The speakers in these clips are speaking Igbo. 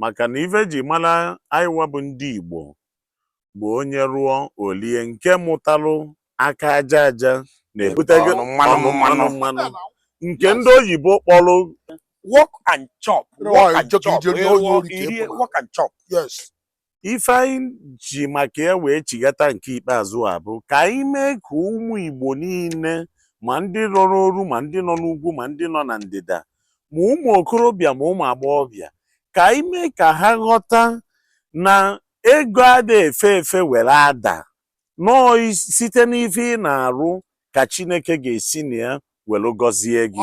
maka na ife eji mara anyịwa bụ ndị Igbo bụ onye rụọ o lie nke mụtalụ aka aja aja na-ebute gịnị ọnụ mmanụ mmanụ nke ndị oyibo kpọrọ work and chop work and chop rụọ ka irie work and chop yes ife anyị ji maka ya wee chighata nke ikpeazụ a bụ ka anyị mee ka ụmụ Igbo niile ma ndị nọ n'oru ma ndị nọ n'ugwu ma ndị nọ na ndịda ma ụmụ okorobịa ma ụmụ agbọghọbịa ka anyị mee ka ha ghọta na ego ada efe efe were ada na ọ site n'ife ị na-arụ ka Chineke ga-esi na ya were gọzie gị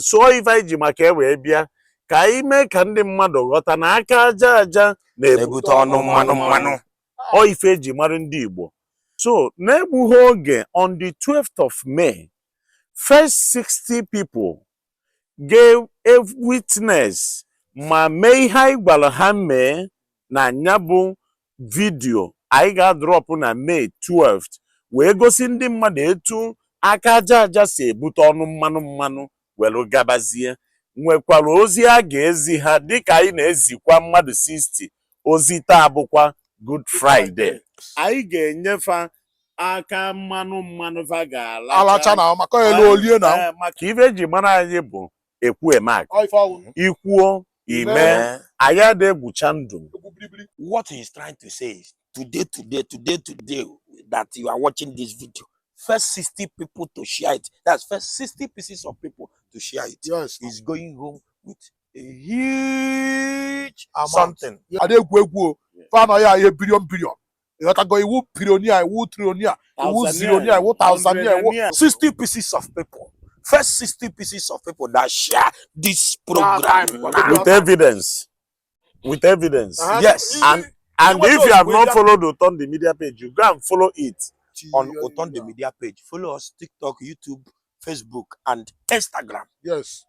so ọ ife anyị ji maka ya wee bịa ka anyị mee ka ndị mmadụ ghọta na aka aja aja na-ebute ọnụ mmanụ mmanụ ọ ife eji mara ndị Igbo so na-egbughị oge on the 12th of May first 60 people ga-ewitness ma mee ihe anyị gwara ha mee na nya bụ vidio anyị ga-adrọpụ na May 12 wee gosi ndị mmadụ etu aka aja aja si ebute ọnụ mmanụ mmanụ were gabazie nwekwara ozi a ga-ezi ha dịka anyị na-ezikwa mmadụ 60 ozi taa bụkwa Good Friday anyị ga-enye fa aka mmanụ mmanụ va ga-alacha alacha na maka alụọ elie na Eh, maka ife eji mara anyị bụ ekwu eme aka Ọ ife ọ wụ. ikwuo imee. anyị ada egwucha ndụ Egwu biribiri. what he's trying to say is today, today, today, today that you are watching this video, first 60 people to share it. That's first 60 pieces of people to share it. Yes. He's going home with a huge Amount. something Yeah. a na-egwu egwu o Yeah. fa anaghị ahịa bilion bilion ịghọtago iwu pirionia iwu trionia iwu Tanzania, zirionia iwu tanzania iwu Tanzania. 60 pieces of people first 60 pieces of people that share this program time, now. time. with evidence with evidence Uh-huh. yes and and Iwe if you have those not media- followed Oton the media page you go and follow it on Oton the media page follow us tiktok youtube Facebook, and Instagram. Yes,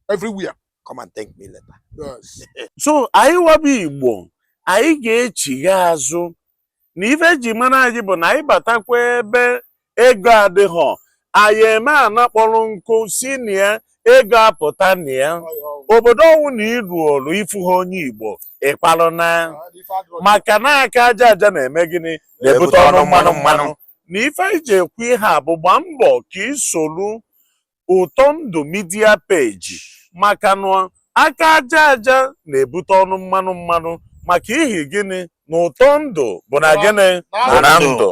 everywhere. Come and thank me later. Yes. so anyịwa bụ Igbo anyị ga-echigha azụ na ife eji mara anyị bụ na anyị batakwa ebe ego adịghọ anyị eme ana kpọrọ nkụ si na ya ego apụta na ya obodo ọwụna iruolu ifuhọ onye Igbo ịkwalụ naa maka na aka aja aja na-eme gịnị na-ebute ọnụ mmanụ mmanụ na ife anyị ji ekwu ihe a bụ gbaa mbọ ka isolu Ụtọndụ media page maka na aka aja aja na-ebute ọnụ mmanụ mmanụ maka ihi gịnị na ụtọ ndụ bụ na gịnị bụ na ndụ